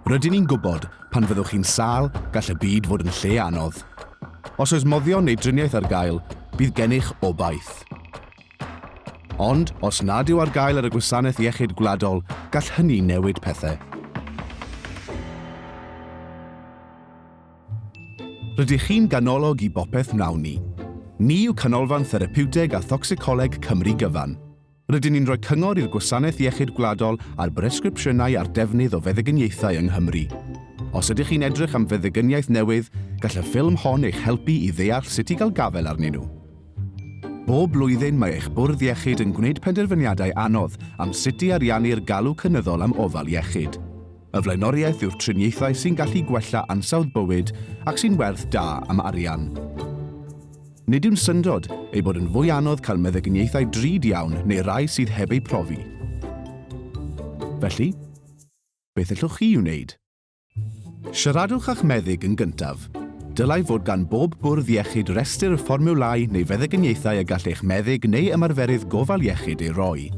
Rydyn ni'n gwybod, pan fyddwch chi'n sâl, gall y byd fod yn lle anodd. Os oes moddion neu driniaeth ar gael, bydd gennych obaith. Ond, os nad yw ar gael ar y gwasanaeth iechyd gwladol, gall hynny newid pethau. Rydych chi'n ganolog i bopeth wnawn ni. Ni yw Canolfan Therapiwteg a Thocsicoleg Cymru gyfan. Rydyn ni'n rhoi cyngor i'r Gwasanaeth Iechyd Gwladol ar bresgripsiynau a'r defnydd o feddygyniaethau yng Nghymru. Os ydych chi'n edrych am feddygyniaeth newydd, gall y ffilm hon eich helpu i ddeall sut i gael gafael arnyn nhw. Bob blwyddyn mae eich bwrdd iechyd yn gwneud penderfyniadau anodd am sut i ariannu'r galw cynyddol am ofal iechyd. Y flaenoriaeth yw'r triniaethau sy'n gallu gwella ansawdd bywyd ac sy'n werth da am arian. Nid yw'n syndod ei bod yn fwy anodd cael meddyginiaethau drud iawn neu rai sydd heb eu profi. Felly, beth ellwch chi i'w wneud? Siaradwch â'ch meddyg yn gyntaf. Dylai fod gan bob bwrdd iechyd restr y fformiwlau neu feddyginiaethau y gall eich meddyg neu ymarferydd gofal iechyd eu rhoi.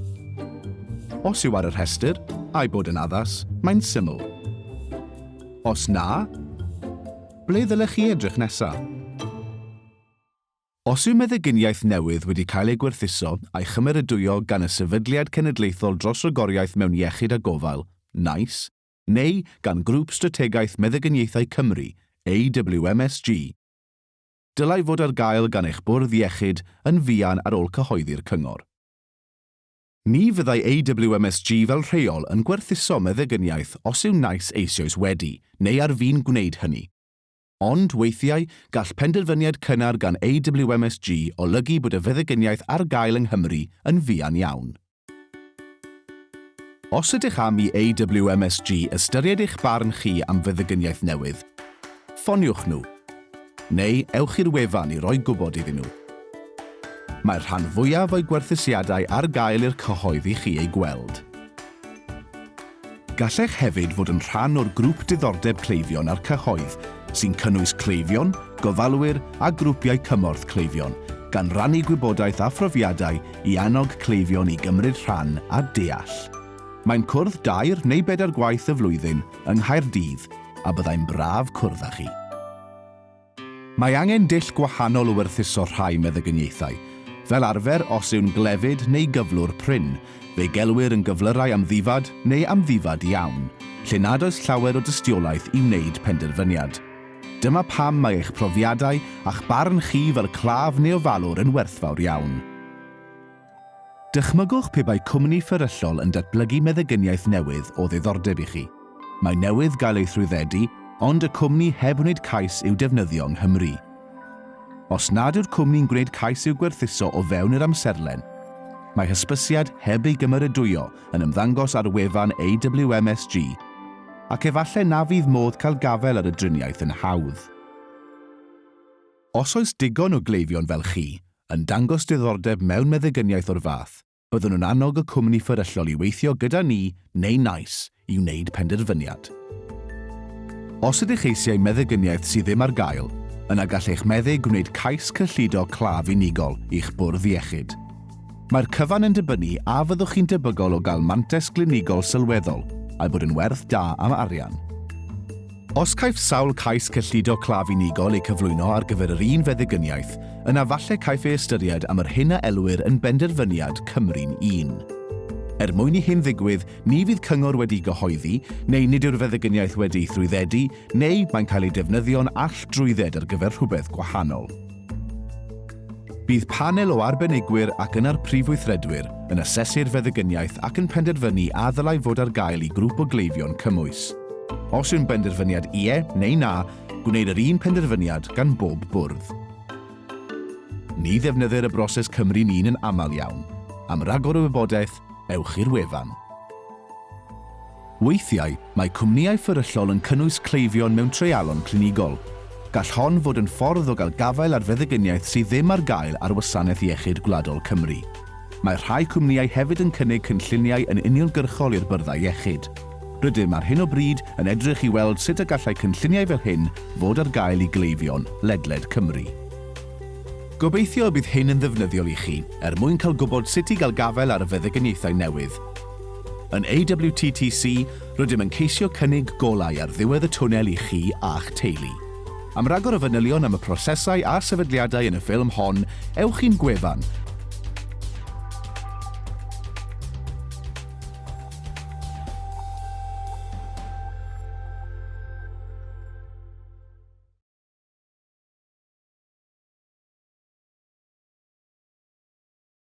Os yw ar y rhestr, a'i bod yn addas, mae'n syml. Os na, Ble ddylech chi edrych nesaf? Os yw meddyginiaeth newydd wedi cael ei gwerthuso a'i chymeradwyo gan y Sefydliad Cenedlaethol dros Ragoriaeth mewn Iechyd a Gofal, NICE, neu gan Grŵp Strategaeth Meddyginiaethau Cymru, AWMSG, dylai fod ar gael gan eich bwrdd iechyd yn fuan ar ôl cyhoeddi'r cyngor. Ni fyddai AWMSG fel rheol yn gwerthuso meddygyniaeth os yw naill eisioes wedi, neu ar fin gwneud hynny. Ond, weithiau, gall penderfyniad cynnar gan AWMSG olygu bod y feddygyniaeth ar gael yng Nghymru yn fuan iawn. Os ydych am i AWMSG ystyried eich barn chi am feddygyniaeth newydd, ffoniwch nhw. neu ewch i'r wefan i roi gwybod iddyn nhw. Mae'r rhan fwyaf o'i gwerthusiadau ar gael i'r cyhoedd i chi eu gweld. Gallech hefyd fod yn rhan o'r Grŵp Diddordeb Cleifion a'r Cyhoedd, sy'n cynnwys cleifion, gofalwyr a grwpiau cymorth cleifion, gan rannu gwybodaeth a phrofiadau i annog cleifion i gymryd rhan a deall. Mae'n cwrdd dair neu bedair gwaith y flwyddyn yng Nghaerdydd a byddai'n braf cwrdd â chi. Mae angen dull gwahanol o werthuso rhai meddygyniaethau. Fel arfer, os yw'n glefyd neu gyflwr prin, fe'i gelwir yn gyflyrau amddifad neu amddifad iawn, lle nad oes llawer o dystiolaeth i wneud penderfyniad. Dyma pam mae eich profiadau a'ch barn chi fel claf neu ofalwr yn werthfawr iawn. Dychmygwch pe bai cwmni fferyllol yn datblygu meddygyniaeth newydd o ddiddordeb i chi. Mae newydd gael ei thrwyddedu, ond y cwmni heb wneud cais i'w defnyddio yng Nghymru. Os nad yw'r cwmni'n gwneud cais i'w gwerthuso o fewn yr amserlen, mae hysbysiad heb ei gymeradwyo yn ymddangos ar wefan AWMSG, ac efallai na fydd modd cael gafael ar y driniaeth yn hawdd. Os oes digon o gleifion fel chi, yn dangos diddordeb mewn meddygyniaeth o'r fath, byddwn yn annog y cwmni fferyllol i weithio gyda ni neu NICE i wneud penderfyniad. Os ydych eisiau meddygyniaeth sydd ddim ar gael, yna gall eich meddyg wneud cais cyllido claf unigol i'ch bwrdd iechyd. Mae'r cyfan yn dibynnu a fyddwch chi'n debygol o gael mantais glinigol sylweddol a'i bod yn werth da am arian. Os caiff sawl cais cyllido claf unigol eu cyflwyno ar gyfer yr un feddigyniaeth, yna falle caiff ei ystyried am yr hyn a elwir yn benderfyniad Cymru'n un. Er mwyn i hyn ddigwydd, ni fydd cyngor wedi'i gyhoeddi, neu nid yw'r feddigyniaeth wedi'i thrwyddedu, neu mae'n cael ei defnyddio'n all-drwydded ar gyfer rhywbeth gwahanol. Bydd panel o arbenigwyr ac yna'r Prif Weithredwyr yn asesu'r feddygyniaeth ac yn penderfynu a ddylai fod ar gael i grŵp o gleifion cymwys. Os yw'n benderfyniad ie neu na, gwneir yr un penderfyniad gan bob bwrdd. Ni ddefnyddir y broses Cymru Min yn aml iawn. Am ragor o wybodaeth, ewch i'r wefan. Weithiau, mae cwmnïau fferyllol yn cynnwys cleifion mewn treialon clinigol. Gall hon fod yn ffordd o gael gafael ar feddygyniaeth sydd ddim ar gael ar Wasanaeth Iechyd Gwladol Cymru. Mae rhai cwmnïau hefyd yn cynnig cynlluniau yn uniongyrchol i'r byrddau iechyd. Rydym ar hyn o bryd yn edrych i weld sut y gallai cynlluniau fel hyn fod ar gael i gleifion ledled Cymru. Gobeithio y bydd hyn yn ddefnyddiol i chi, er mwyn cael gwybod sut i gael gafael ar y feddygyniaethau newydd. Yn AWTTC, rydym yn ceisio cynnig golau ar ddiwedd y twnnel i chi a'ch teulu. Am ragor o fanylion am y prosesau a'r sefydliadau yn y ffilm hon, ewch i'n gwefan,